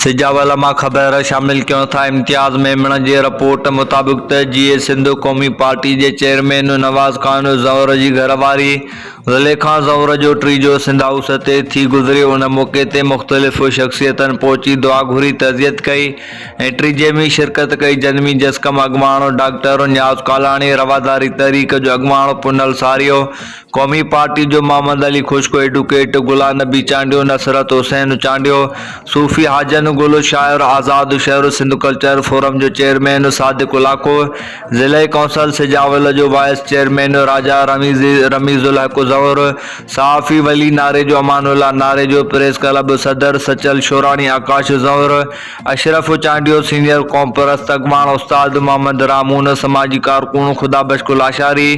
سجاول مان خبر شامل ڪيون ٿا امتياز ميمڻ جي رپورٽ مطابق ته جيئي سنڌ قومي پارٽي جي چيئرمين نواز خان زئور جي گهر واري زليخا زئور جو ٽيجو سنڌ هائوس تي ٿي گذريو ان موقعي تي مختلف شخصيتن پهچي دعا گهري تعزيت ڪئي ۽ ٽيجي ۾ شرڪت ڪئي جن ۾ جسقم اڳواڻ ڊاڪٽر نياز ڪالاڻي رواداري تحريڪ جو اڳواڻ پنهل ساريو قومي پارٽي جو محمد علي خشڪو، ايڊوڪيٽ غلام نبي چانڊيو، نصرت حسين چانڊيو، صوفي حاجن گل، شاعر آزاد شهر، سنڌ ڪلچر فورم جو چيئرمين صادق الاکو، ضلعي ڪونسل سجاول جو وائيس چيئرمين راجا رميز الحق زهور، صحافي ولي ناريجو، امان الله ناريجو، پريس ڪلب صدر سچل شوراڻي، آڪاش زهور، اشرف چانڊيو، سينيئر قومپرست اڳواڻ استاد محمد رامون، سماجي ڪارڪن خدا بخش ڪلاشاري،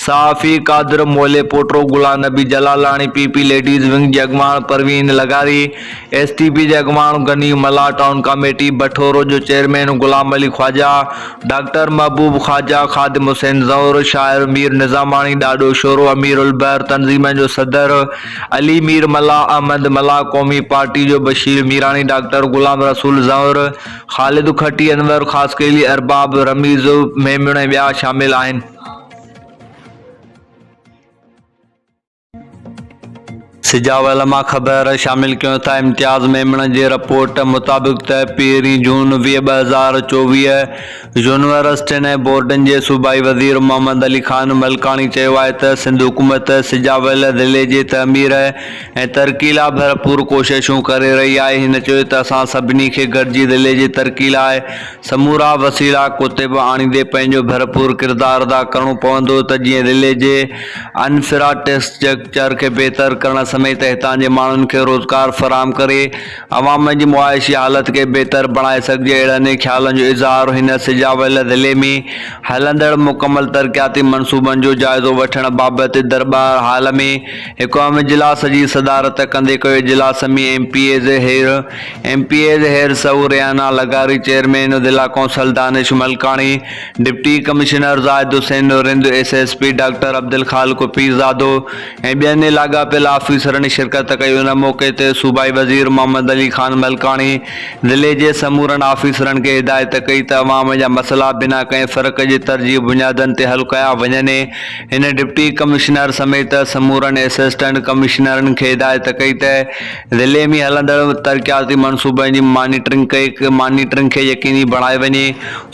صحافي Qadir Mooli Potro, Ghulam Nabi Jalalani, P P ladies wing جي اڳواڻ پروين لغاري، ايس ٽي پي جي اڳواڻ غني ملاح، ٽائون ڪاميٽي بٺورو جو چيئرمين غلام علي خواجا، ڊاڪٽر محبوب خواجا، خادم حسين زئور، شاعر مير نظاماڻي، ڏاڏو شورو، امير البحر، تنظيمن جو صدر، علي مير ملاح احمد ملاح قومي پارٽي جو بشير ميراڻي ڊاڪٽر غلام رسول زهر خالد کٽي انور خاصخيلي ارباب رميز ميمڻ ۽ ٻيا شامل آهن. سجاء علماء خبر شامل ڪيون ٿا امتياز ميمڻ جي رپورٽ مطابق ته پهرين جون ويهه ٻه هزار چوويهه يونيورسٽين ۽ بورڊن جي صوبائي وزير محمد علي خان ملڪاڻي چيو آهي ته سنڌ حڪومت سجاء ويل ضلعي جي تعمير ۽ ترقي لاء ڀرپور ڪوششون ڪري رهي آهي هن چيو ته اسان سڀني کي گڏجي ضلعي جي ترقي لاء سمورا وسيلا ڪوتيب آڻيندي پنهنجو ڀرپور ڪردار ادا ڪرڻو پوندو ته جيئن ضلعي جي انفرا ٽسٽرڪچر کي بهتر ڪرڻ سميت هتان جي ماڻهن کي روزگار فراهم ڪري عوام جي معاشي حالت کي بهتر بڻائي سگهجي اهڙن ئي خيالن جو اظهار هن سجاء ويل ضلعي ۾ هلندڙ مڪمل ترقياتي منصوبن جو جائزو وٺڻ بابت درٻار هال ۾ اقوام اجلاس جي صدارت ڪندي ڪيو اجلاس ۾ M P As Heer M P As Heer Soho Riyana لغاري چيئرمين ضلع council Danish Malkani deputy commissioner Zahid Hussain Rind S S P doctor Abdul Khaliq Pirzado ۽ ٻين لاڳاپيل آفيسرن شرڪت ڪئي ان موقعي تي صوبائي وزير محمد علي خان ملڪاڻي ضلعي جي سمورن آفيسرن کي هدايت ڪئي ته عوام جا مسئلا بنا ڪنهن فرق جي ترجيحي بنيادن تي حل ڪيا وڃني هن ڊپٽي ڪمشنر سميت سمورن اسسٽنٽ ڪمشنرن کي هدايت ڪئي ته ضلعي ۾ هلندڙ ترقياتي منصوبن جي مانيٽرنگ ڪئي مانيٽرنگ کي يقيني بڻائي وڃي،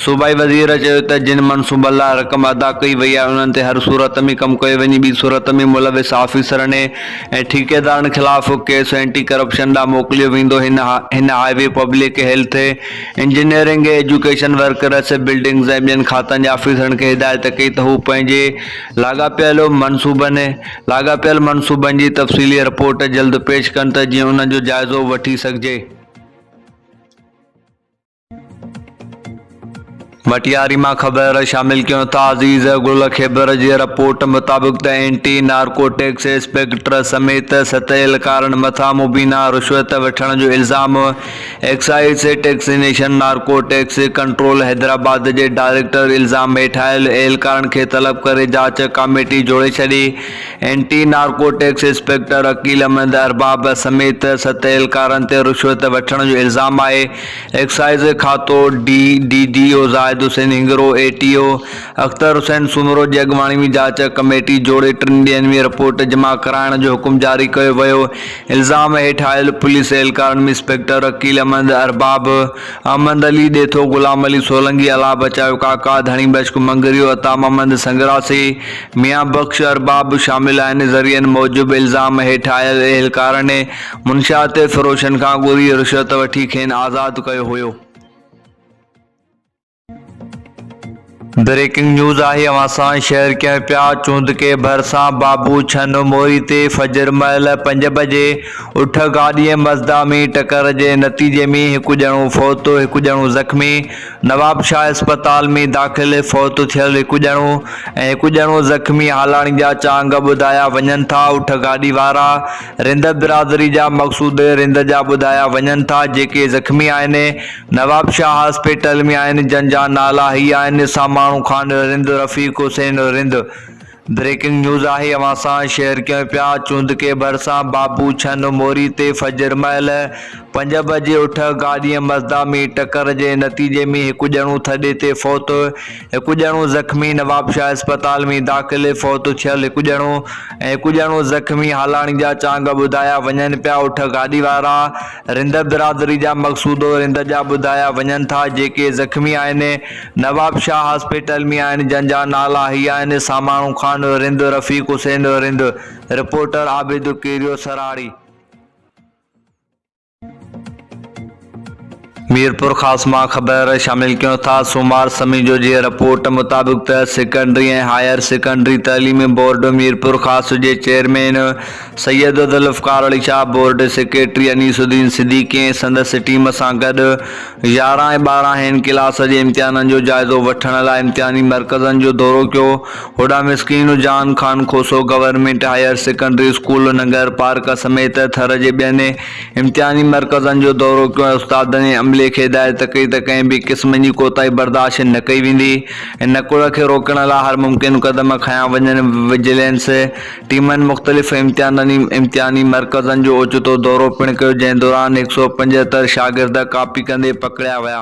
صوبائي وزير چيو ته جن منصوبن لاء رقم ادا ڪئي وئي آهي انهن تي هر صورت ۾ ڪم ڪيو وڃي ٻي صورت ۾ ملوث آفيسرن ۽ ٺيڪيدارن خلاف ڪيس اينٽي ڪرپشن ڏانهن موڪليو ويندو هن هن highway public health engineering education workers buildings ۽ ٻين کاتن جي آفيسرن کي هدايت ڪئي ته هو پنهنجي لاڳاپيل منصوبن لاڳاپيل منصوبن جي تفصيلي رپورٽ جلد پيش ڪن ته جيئن انهن جو جائزو وٺي سگهجي. مٽياري مان خبر شامل ڪيون ٿا عزيز گل خيبر جي رپورٽ مطابق ته اينٽي نارڪوٽڪس انسپيڪٽر سميت ستيل ڪارن مٿان مبينا رشوت وٺڻ جو الزام excise taxation narcotics control Hyderabad جي ڊائريڪٽر الزام هيٺاهيل اهلڪارن کي طلب ڪري جاچ ڪاميٽي جوڙي ڇڏي anti narcotics inspector Aqeel Ahmed Arbab سميت ست اهلڪارن تي رشوت وٺڻ جو الزام آهي ايڪسائيز کاتو D D O Zahid Hussain Hingoro E T O Akhtar Hussain Soomro جي اڳواڻي ۾ جاچ ڪميٽي جوڙي ٽن ڏينهن ۾ رپورٽ جمع ڪرائڻ جو حڪم جاري ڪيو ويو الزام هيٺ آيل پوليس اهلڪارن ۾ انسپيڪٽر عقيل احمد ارباب، احمد علي ڏيٿو، غلام علي سولنگي، الله بچايو ڪاڪا، ڌڻي بشڪ مڱريو، عطا محمد سنگراسي، ميان بخش ارباب به شامل آهن ذريعن موجب الزام هيٺ آيل اهلڪارن منشيات فروشن کان ڳري رشوت وٺي کين آزاد ڪيو هيو. بريڪنگ نيوز آهي اوهان سان شيئر ڪيون پيا چوندڪي ڀرسان بابو ڇن موئي تي فجر مهل پنج بجي اٺ گاڏي ۽ مزدا ۾ ٽڪر جي نتيجي ۾ هڪ ڄڻو فوت هڪ ڄڻو زخمي نوابشاهه اسپتال ۾ داخل فوت ٿيل هڪ ڄڻو ۽ هڪ ڄڻو زخمي هالاڻي جا چانگ ٻڌايا وڃن ٿا اٺ گاڏي وارا رند برادري جا مقصود رند جا ٻڌايا وڃن ٿا جيڪي زخمي آهن نوابشاهه هاسپيٽل ۾ آهن جن جا نالا هي آهن ساماڻو خان رند رفيق حسين رند بريڪنگ نيوز آهي اوهان سان شيئر ڪيون پيا چوندڪي ڀرسان بابو ڇن موري تي فجر مهل پنج بجي اٺ گاڏي مزدا ۾ ٽڪر جي نتيجي ۾ هڪ ڄڻو ٿڏي تي فوت هڪ ڄڻو زخمي نوابشاهه اسپتال ۾ داخل فوت ٿيل هڪ ڄڻو ۽ هڪ ڄڻو زخمي هالاڻي جا چانگ ٻڌايا وڃن پيا اٺ گاڏي وارا رند برادري جا مقصودو رند جا ٻڌايا وڃن ٿا جيڪي زخمي آهن نواب شاهه هاسپيٽل ۾ آهن جن جا نالا هي آهن ساماڻو خان رند رفيق حسين رند رپورٽر عابد ڪيريو سراڙي. ميرپورخاص مان خبر شامل ڪيون ٿا سومار سميجو جي رپورٽ مطابق ته سيڪنڊري ۽ هائير سيڪنڊري تعليمي بورڊ ميرپورخاص جي chairman Syed Zulfiqar Ali Shah, board secretary Anees Uddin Siddiqui ۽ سندس ٽيم سان گڏ يارهن ۽ ٻارهن هين ڪلاس جي امتحانن جو جائزو وٺڻ لاء امتحاني مرڪزن جو دورو ڪيو، هوڏانهن Miskeen Jan Khan Khoso government higher secondary school Nangarparkar سميت ٿر جي ٻين امتحاني مرڪزن جو دورو ڪيو ۽ استادن ۽ عملي کي هدايت ڪئي ته ڪنهن به قسم جي ڪوتاهي برداشت نه ڪئي ويندي ۽ نڪوڙ کي روڪڻ لاء هر ممڪن قدم کنيا وڃن، وجيلينس ٽيمن مختلف امتحاني مرڪزن جو اوچتو دورو پڻ ڪيو جنهن دوران هڪ سؤ پنجهتر شاگرد ڪاپي ڪندي پڪڙيا ويا.